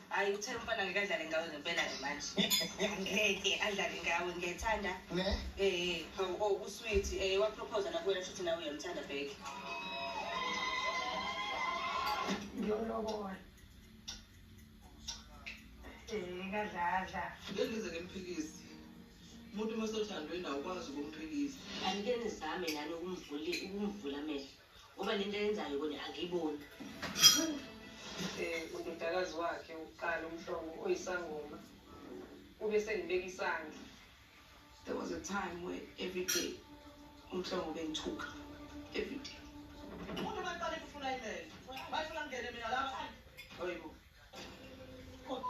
hayi uthe umfana ngeke adlale ngawe ngempela-ke manje ngeke adlale ngawe ngiyayithanda ne eh o oh, oh, usweet eh wapropose nakuwena futhi nawe uyamthanda back ngiyolobola eh kadladla ngengize ngimphikisi umuntu uma sothandwe nawo ukwazi ukumphikisa angike nizame nani ukumvula ukumvula amehlo ngoba le nto yenzayo kona angiyiboni um udodakazi wakhe wokuqala umhlongo oyisangoma ube sengibeka isandla there was a time where every day umhlongo bengithuka every day umuntu baqale kufuna imele bayifuna ngene mina lapha oyibo Thank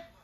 you.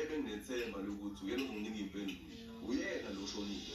ebenginethemba lokuthi uyena uzonginika impendulo uyena lo shonile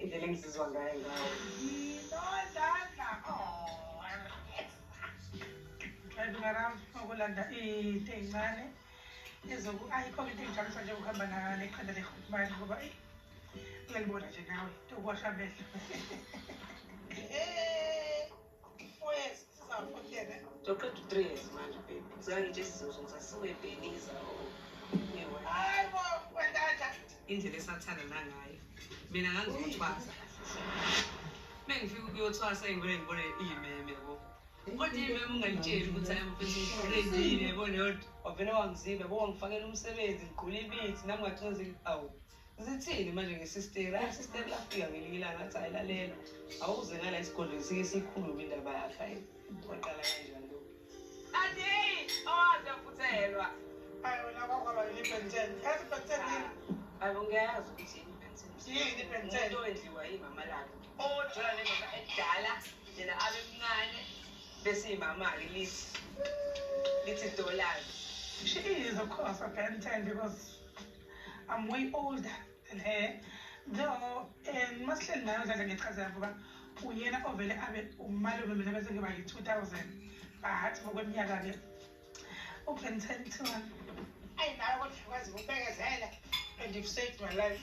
indlela engizizwa ngayo ngayo okulanda into eyincane ezoku ayikho into engijabulisa njengokuhamba nekhanda lekhutmani ngoba uyalibona nje nawe tokuwasha amehlo indlela esathanda nangayo mina ngangikuthwasa mengifika ukuyothwasa ingibone ngibone iyimeme yabo kodwa iyimeme ungalitsheli ukuthi ayamfeseendile yabona yodwa wavele wangizile bo wangifakela umsebenzi ngigqula ibithi nami ngathi awu zithini manje ngesisteri hayi sisteri lafika ngelinye ilanga athi ayilalela awuze ngala isigodlweni sike sikhulume indaba yakhe ayi waqala kanjani lo ade awaze futhelwa ayi wena kwakwaba yini ibenten yazi ibenten yini ayi ungayazi ukuthi yini ibenten yini ibenten into endliwa yimama lakhe ojola nemama edala yena abe mncane bese imama-ke lithi lithi dollars she is of course a benten because I'm way older than her though and masihleli nayo dlala ngechazela ngoba uyena ovele abe umalume mina bese ngiba yi-two thousand but ngokweminyaka-ke uben ten to one ayi nayo kodwa kwazi ukubekezela and you've saved my life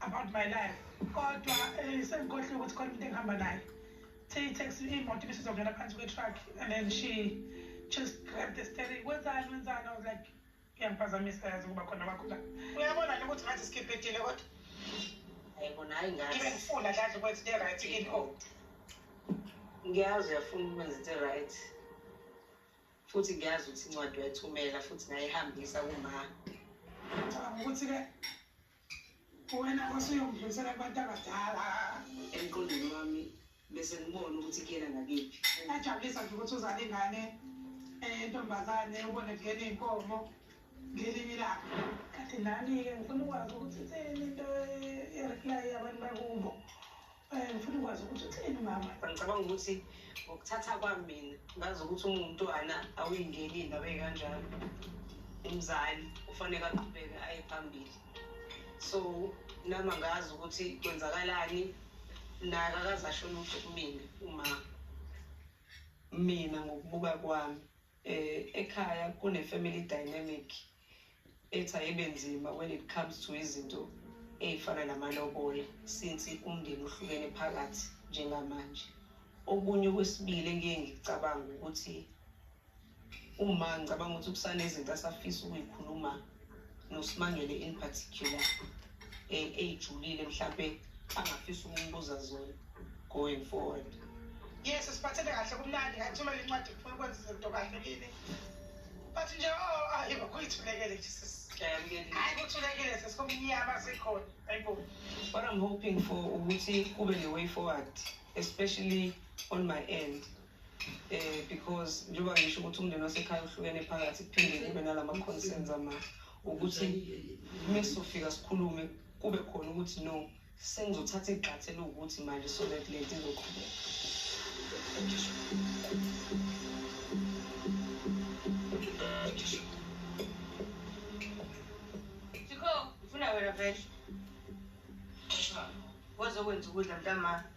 about my life kodwa eh, sengikhohlwe ukuthi khona umuntu engihamba naye the taxi imoto ibisizongena phansi kwe-truck and then she just grabbed the steering wenzani wenzani i was like iyangiphazamisa yazi ukuba khona kwakho la uyabona nje ukuthi ngathi sikhiphetile kodwa ayibona hayi ngathi ibe ngifuna dladla ukwenza into e-right into ngiyazi uyafuna ukwenza into e-right futhi ngiyazi ukuthi incwadi wayithumela futhi ngayihambisa kuma ngicabanga ukuthi ke wena osuyongidlulisela kubantu abadala emqondweni wami bese ngibona ukuthi kuyena ngakiphi ngajabulisa nje ukuthi uzale ingane eh, entombazane ubone kuyena iy'nkomo ngelinye ilanga kanti nani-ke ngifuna ukwazi ukuthi itheni into ereplayi abantu bakubo Eh, ngifuna ukwazi ukuthi utheni mama ngicabanga ukuthi ngokuthatha kwami mina ngazi ukuthi umuntu ana awuyingeni indaba ekanjalo umzali ufanele aqhubeke aye phambili so nami angazi ukuthi kwenzakalani naye akakaze asho lutho kumina uma mina ngokubuka kwami um ekhaya kune-family dynamic ethi ayibe nzima when it comes to izinto ey'fana namalobola since umndeni uhlukene phakathi njengamanje okunye okwesibili engiye ngicabanga ukuthi uma ngicabanga ukuthi kusanezinto asafisa ukuyikhuluma nosimangele in particular eh, eyijulile mhlampe angafisa ukumbuza zona going forward yes siphathele kahle kumnandi ngayithumela incwadi kufuna ukwenza izinto kahle kini but nje o oh, ayi kuyithulekele jesus hayi kuthulekile sesikumnyama sikhona ayibo what i'm hoping for ukuthi kube ne-way forward especially on my end eh because njengoba ngisho ukuthi umndeni wasekhaya uhlukene phakathi kuphinde kube nalama concerns ama ukuthi mesofika sikhulume kube khona ukuthi no sengizothatha igxathe lokuthi manje so that le nto izoqhubeka Chiko, ufuna wena vele? Wazokwenza ukudla mntamami.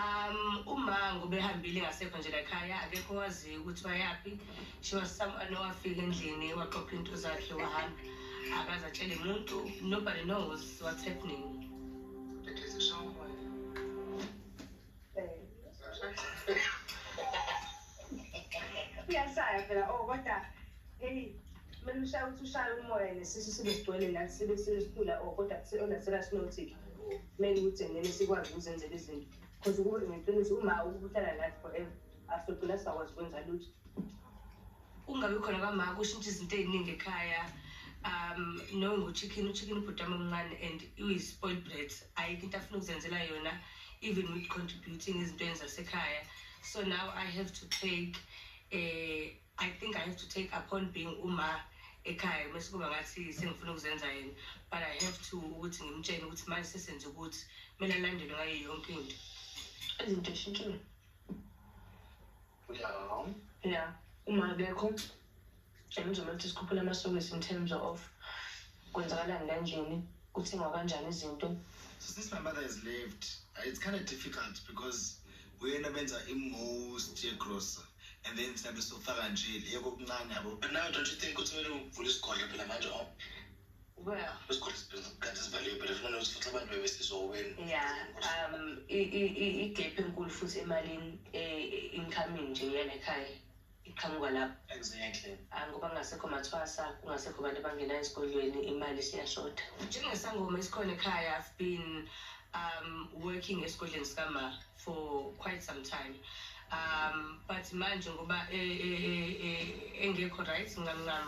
Um, umango ubehambile ngasekho nje lakhaya akekho waziyo ukuthi bayaphi she was someone owafika endlini waqopha into zakhe wahamba akaze atshele muntu nobody knows what's happening Uyashaya phela oh kodwa hey melushaya ukuthi ushaya umoya nesisu sibe sigcwele la sibe sinesifula oh kodwa kuseyona serious notic kumele ukuthi ngene sikwazi ukuzenzela izinto because ukuba ngeqiniso uma ukuhlala nathi forever asogcina singakwazi ukwenza lutho ungabi khona kamaka ushintsha izinto ey'ningi ekhaya um no nguchicken uchicken ubhuti wami omncane and uyi-spoil bread ayikho into afuna ukuzenzela yona even with contributing ezintweni zasekhaya so now i have to take eh i think i have to take upon being uma ekhaya mase kuba ngathi sengifuna ukuzenza yena but i have to ukuthi ngimtshene ukuthi manje sesenze ukuthi kumele alandelwe ngayo yonke into izinto eshintshile ya uma akekho James uma kuthi sikhuphula amasokisi in terms of kwenzakalani kanjeni kuthengwa kanjani izinto so since my mother has left uh, it's kind of difficult because uyena benza i-most yegrocer and then thina besofaka nje le kokuncane yabo but now don't you think ukuthi kumele uvule isigodlo phela manje o oh. well isigodlo kanti sivaliwe but funa ukuthi futhi abantu bebesizoweni ya um igap enkulu futhi emalini e-incoming nje yena ekhaya iqhamuka lapho exactly ah, ngoba kungasekho mathwasa kungasekho abantu abangena esikolweni imali siyashoda njengesangoma esikhona ekhaya i've been um, working esigodleni sikama for quite some time um, but manje ngoba e, e, e, engekho right ngamncam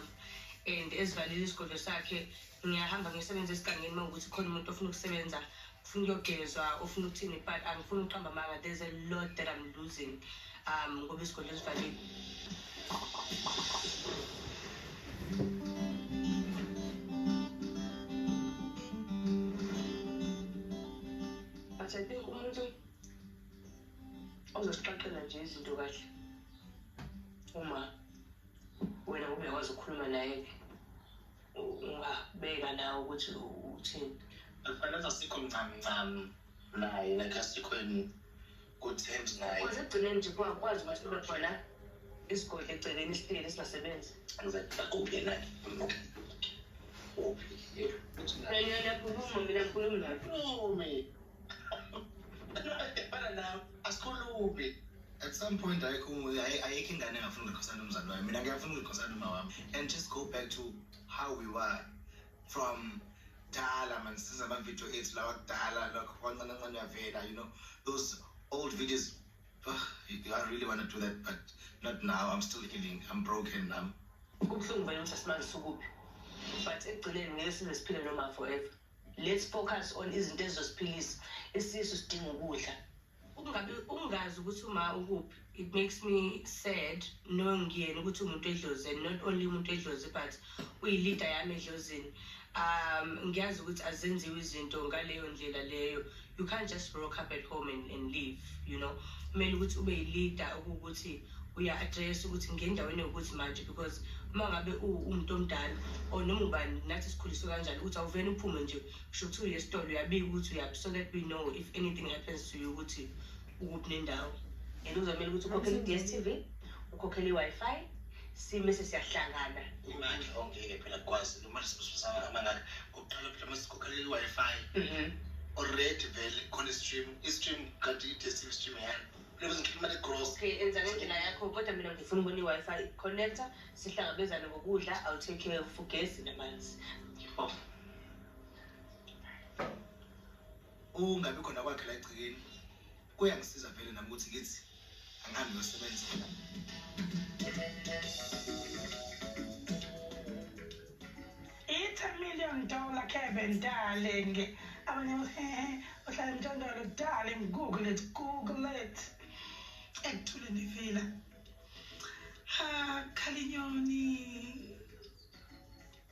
and ezivalile isigodlo sakhe ngiyahamba ngiyosebenza esigangeni uma ukuthi khona umuntu ofuna ukusebenza ufuna ukuyogezwa ufuna ukuthini but angifuni ukuqamba amanga there's a lot that i'm losing um ngoba isigodlo esivalile but i think umuntu ozosixoxela nje izinto kahle uma wena ubekwazi ukukhuluma naye-ke ungabeka nawe ukuthi uthini afanele asikho mncane ncane naye like asikhweni kuthembi naye kwaze ekugcineni nje kwakwazi ukuthi kube khona isigodi egcekeni sihleli singasebenzi akuphi yena uphi yakhuluma mina ngikhulumi naye at some point ayikho ayikho ingane engafuna ukukhosana umzali wayo mina ngiyafuna ukukhosana uma wami and just go back to how we were from kudala mani siza amavidiyo ethu lawa kudala lokho kwancancancane uyavela you know those old videos oh, i really want to do that but not now i'm still healing i'm broken nam kubuhlungu vele ukuthi asimanje sukuphi but ekugcineni ngeke size siphile noma forever Let's focus on izinto ezizosiphilisa. Isisu sidinga ukudla. Ukungabi ukungazi ukuthi uma ukuphi it makes me sad knowing ngiyena ukuthi umuntu edlozini not only umuntu edlozi but uyi-leader yami edlozini um ngiyazi ukuthi azenziwe izinto ngaleyo ndlela leyo you can't just rock up at home and, and leave you know kumele ukuthi ube yi-leader okuwukuthi uya-address ukuthi ngendaweni yokuthi manje because uma ngabe uwumuntu omdala or noma ubani nathi sikhuliswe kanjani ukuthi awuvele uphume nje kusho ukuthi uye esitolo uyabika ukuthi uyaphi so that we know if anything happens to you ukuthi ukuphi nendawo and uzamele ukuthi ukhokhele i-ds t v ukhokhele i-wi-fi sime sesiyahlangana imandla ongeke phela kukwazi noma sibusana amangaka uqala mhlawumbe sikhokhela i-wi-fi mhm. already vele khona i-stream i-stream kanti i-dstv stream yani lokuthi ngikhiphe imali egross okay enza ngendlela yakho kodwa mina ngifuna ubona i-wi-fi connector sihlangabezane ngokudla i'll take care of ugesi namanzi Ukungabi khona kwakhe la egcekeni kuyangisiza vele nami ukuthi ngithi angihambe yosebenza. I-10 million dollar Kevin darling. Abanye hehe uhlala emthandalo darling google it google it. Ekuthule ndivila. Ha khalinyoni.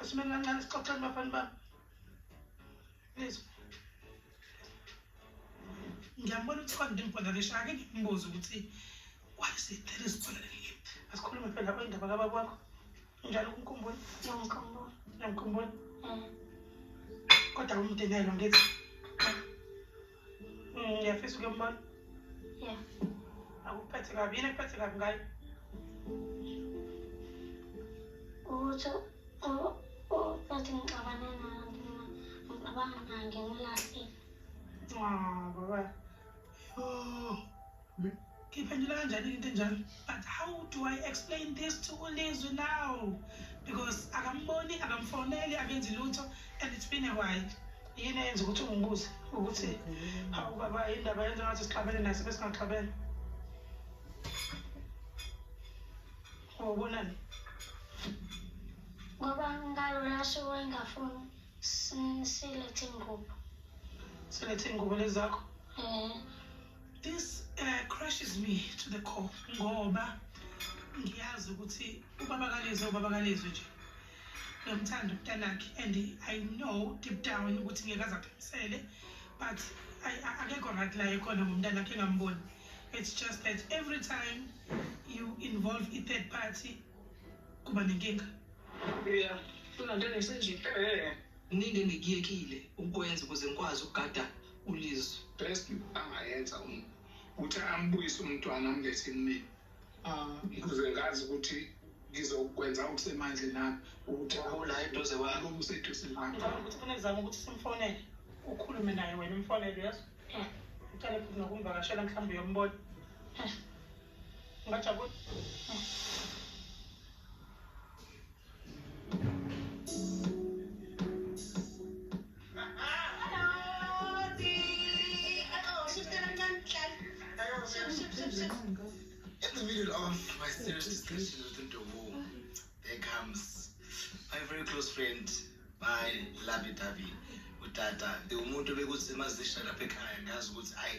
Asimeni kancane sixoxeni bafana bami. Nizwa. Ngiyambona ukuthi kodwa ngimpola ngisho ake ngimbuze ukuthi why is it there is pola leli. Asikhulume phela lapho indaba kababa wakho. Njalo kumkhumbula. Ngiyamkhumbula. Ngiyamkhumbula. Mm. Kodwa umdenelo ngithi ngiyafisa uke mbona ya akuphethe kabi yini ekuphethe kabi ngayo ukuthi uthi ngixabane nayo ngixabanga nayo ngimlahlile baba Ngiyiphendula kanjani into enjalo? But how do I explain this to uLizwi now? Because akamboni, akamfoneli, akenzi lutho and it's been a while. Yini eyenza ukuthi ungibuze ukuthi hawu baba indaba yenza ngathi sixabene naye sibe singaxabene? Wawubonani? Ngoba ngalona suku engafuni si- silethe ingubo. Silethe ingubo lezi zakho? Eh, This uh, crushes me to the core ngoba ngiyazi ukuthi ubaba kalezwe ubaba kalezwe nje ngiyamthanda umntanakhe and i know deep down ukuthi ngeke aze aphimisele but akekho right la ekhona ngomntanakhe engamboni it's just that every time you involve i-third party kuba nenkinga yeah kunanto engesenje eh, eh, eh. nini engikuyekile ukwenza ukuze ngikwazi ukugada uLizwe. Best angayenza um ukuthi ambuyise umntwana amlethe kumina ukuze ah. ngazi ukuthi ngizokwenza okusemandle nami ukuthi abola eduze kwami useduze nami ukuthi funa kuzama ukuthi simfonele ukhulume naye wena umfonele yazi ucale futhi nokumvakashela mhlawumbe uyombona Ngajabula. In the middle of my serious discussion with Ndovu, there comes my very close friend, my lovey dovey, utata. The umuntu bekuthi mazisha lapha ekhaya ngazi ukuthi ayi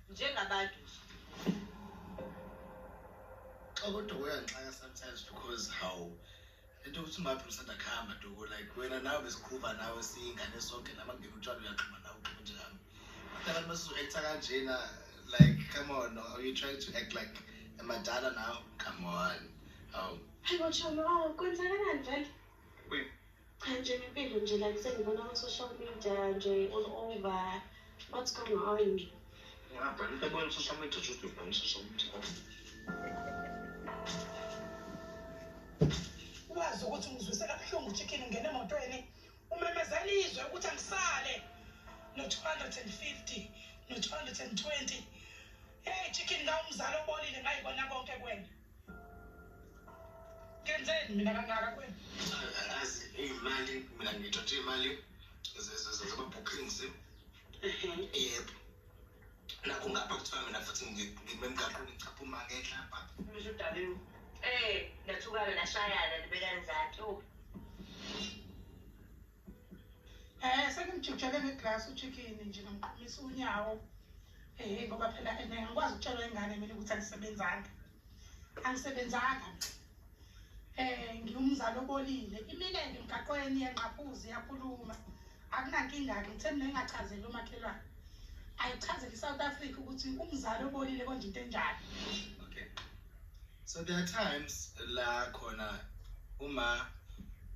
njengabantu nje. Kodwa kuyangixaka sometimes because how into ukuthi umaphela usanda kuhamba duku like wena nawe besiqhuba nawe siyingane sonke nami angibika utshwala uyaxhuma nawe uxhuma njengami kodwa abantu basizoektha kanjena like come on are you trying to act like amadala now come on awu hayi botshono awu kwenzakalani vele Cha nje impilo nje like sengibona ku social media nje all over what's going on ngapha into ebona social media just ubona social media wazi ukuthi ngizwise kabuhlungu chicken ngene emotweni umemezela izwe ukuthi angisale no-250 no-220 hey chicken ngawumzali obolile ngayibona konke kwena Kenzeni mina kangaka kwenu? Angazi imali mina ngithathe imali zama-bookings yebo nakho ngapha kuthiwa mina futhi ngimemgaqweni chapha uma ngehla pha ngisho udabeni um eh, nathukana nashayana nibekani zathi Eh sengimjujele ngeglass uchicken nje ngimqhumisa unyawo. Eh ngoba phela ene ngikwazi ukutshela ingane mina ukuthi angisebenzanga. Angisebenzanga. Eh ngiwumzali obolile. Imile nje emgaqweni yanqaphuzi yakhuluma. Akunankinga ke ngithe mina ngingachazeli umakhelwane. Ayichazeli iSouth Africa ukuthi umzali obolile konje into enjani. so there are times la khona uma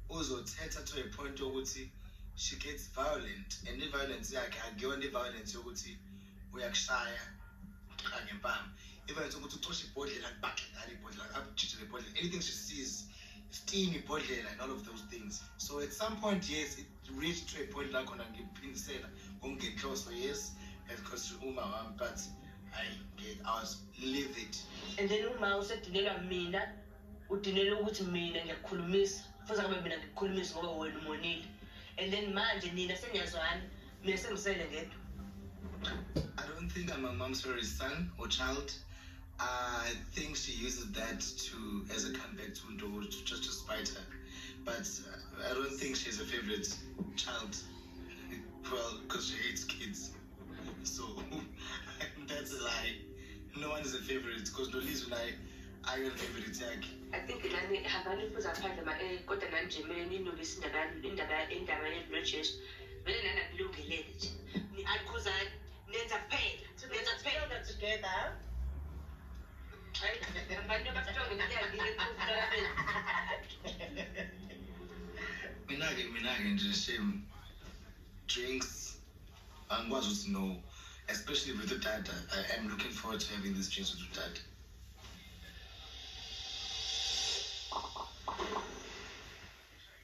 uzothetha to a point yokuthi she gets violent and i-violence yakhe akuyona i-violence yokuthi uyakushaya kanye mpama i-violence ukuthi ucoshe ibhodlela akubakhe ngalo ibhodlela akujijele ibhodlela anything she sees steam ibhodlela and all of those things so at some point yes it reach to a point la khona ngiphindisela kungenhloso yes because uma wami but I get I was live it and then uma usedinelwa mina udinela ukuthi mina ngiyakukhulumisa futhi akabe mina ngikukhulumisa ngoba wena umonile and then manje nina seniyazwana mina sengisele ngedwa I don't think I'm a mom's sorry son or child I think she uses that to as a comeback to, to just to spite her but uh, I don't think she's a favorite child. well, because she hates kids. So that's a lie. No one is a favorite because no Liz and I are your favorite yakhe. I think nani habani fuza phandle ma eh kodwa nani nje mina ninolisa indaba indaba indaba ye Bridges. Vele nani akulungelele nje. Ni akhuzani nenza kuphela nenza kuphela together abantu abastrong mina-ke mina-ke nje shame drinks angikwazi ukuthi no especially with udada i am looking forward to having these drinks with udada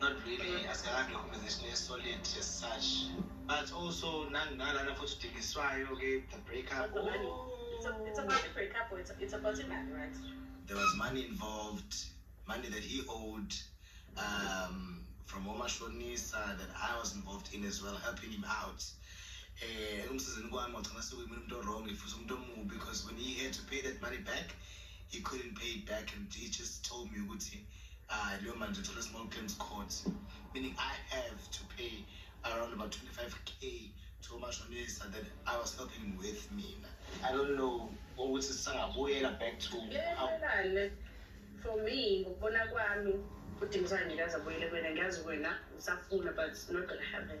not really asikade organization esolid as such but also nanginalana futhi udingiswayo ke the break up oh. it's, a, it's about the break up it's, it's about the money right there was money involved money that he owed um, from omashonisa that i was involved in as well helping him out um ekumsizini kwami wagcina sekuyimuntu umuntu owrong futhi umuntu omubi because when he had to pay that money back he couldn't pay it back and he just told me ukuthi uh, leyo manje thola small claims court meaning i have to pay around about 25k to umashonisa that i was helping with mina i don't know ukuthi sisangabuyela back to Lelelale, for me ngokubona kwami udingisana ngikaze abuyele kwena ngiyazi wena usafuna but it's not gonna happen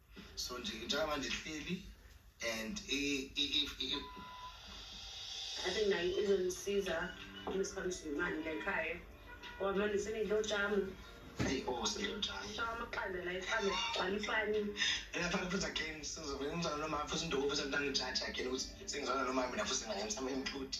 so nje njengoba nje hleli and ade naye izongisiza uma sihambisa imali la ekhaya ngoba manje senidlotshama eyi o oh, sendlotshama so amaqanda la ifane gcwala ifani eyafana futhi again sizovele ngizana nomama futhi indoku futhi angitangijaji again ukuthi sengizana nomama mina futhi ngingayemsama emthuthi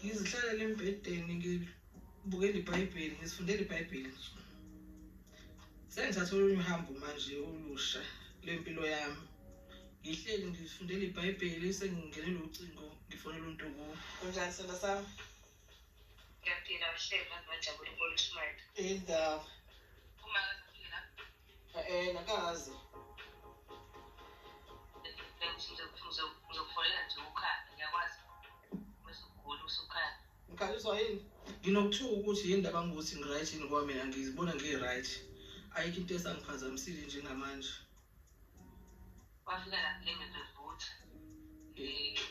ngizihlalele embhedeni ngibukele ibhayibheli ngizifundele ibhayibheli nsuku sengithatha olunye uhambo manje olusha lwempilo yami ngihleli ngifundela ibhayibheli sengingenele ucingo ngifonela umuntu kuwo kunjani sona sami ngiyaphila uhleli ngazibajabula ukolushumela indaba Eh nakazi. Ngizokufowunela nje ukhaya ngiyakwazi. Bese ugula usukhaya. Ngikhaliswa yini? Nginokuthuka ukuthi yini ndaba ngokuthi ngiright yini ngoba mina ngizibona ngiright. Ayikho into esangiphazamisile njengamanje. Wafika la kule ngizovutha. Eh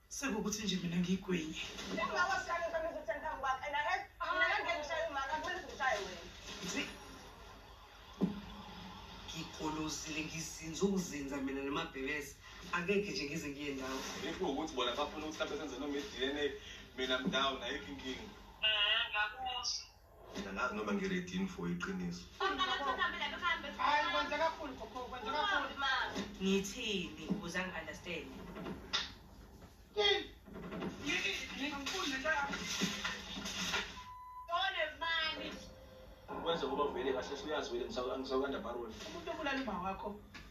Sekukuthi nje mina ngigwenye. ngigolozile ngizinza ukuzinza mina nomabhebesi akekhe nje ngize ngiye ndawo if ukuthi bona bafuna ukuthi mhlawumbe senze noma i-dna mina mndawo nayikho inkinga Mina ngazi noma ngiredini for iqiniso. Hayi kwenza kakhulu gogo, kwenza kakhulu. Ngithini ukuze angi-understand? Wenza ngoba vele kahle uyazi vele ngisawukanda baroni. Umuntu obulala umawakho